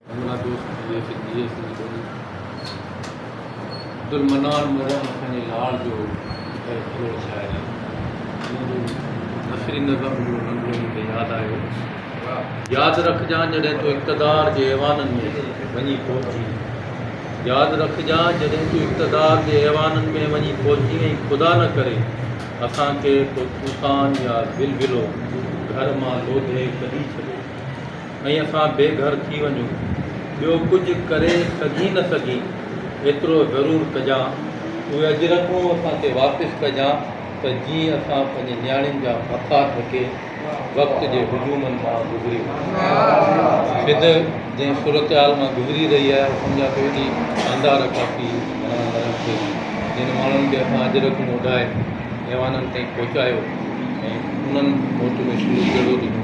بنگلا دوست جي هڪ ڌيء سنڌ ٻولي عبدالمنان ميرن اسان جي لاڙ جو غير ٿلهو شاعر آهي جنهن جو نثري نظم جو ننڍڙو مون کي ياد آيو ياد رکجان جڏهن تون اقتدار جي ايوانن ۾ وڃي پهچين ياد رکجان جڏهن تون اقتدار جي ايوانن ۾ وڃي پهچين ۽ خدا نه ڪري اسان کي ڪو طوفان يا زلزلو گهر مان لوڌي ڪڍي ڇڏي ۽ اسان بي گهر ٿي وڃون. ٻيو ڪجهه ڪري سگهين نه سگهين، ايترو ضرور ڪجان، اهي اجرڪون اسان کي واپس ڪجان ته جيئن اسان پنهنجي نياڻين جا ڀڪا ڍڪي وقت جي هجومن مان گذري وڃون. سنڌ جنهن صورتحال مان گذري رهي آهي، اهو سمجهان ٿو ايڏي شاندار عڪاسي گهڻن ورهين ٿئي، جن ماڻهن کي اسان اجرڪون اوڍائي ايوانن تائين پهچايو ۽ انهن موٽ ۾ شروع ڪهڙو ڏنو.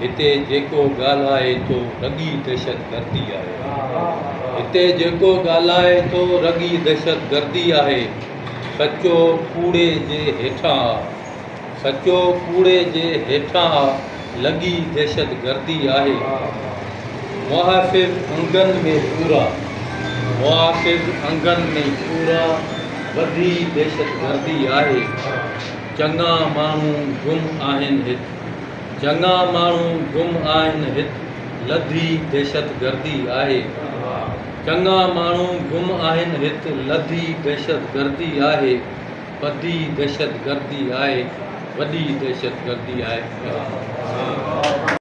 هتي جيڪو ڳالهائي ٿو رڳي دهشتگردي آهي هتي جيڪو ڳالهائي ٿو رڳي دهشتگردي آهي سچو ڪوڙي جي هيٺان آ سچو ڪوڙي جي هيٺان آ لڳي دهشتگردي آهي محافظ انگن ۾ پورا محافظ انگن ۾ پورا وڌي دهشتگردي آهي چڱا ماڻهو گم آهن هت چڱا ماڻهو گم آهن هت لڌي دهشت گردي آهي چڱا ماڻهو گم آهن هت لڌي دهشت گردي آهي پڌي دهشت گردي آهي وڏي دهشت گردي آهي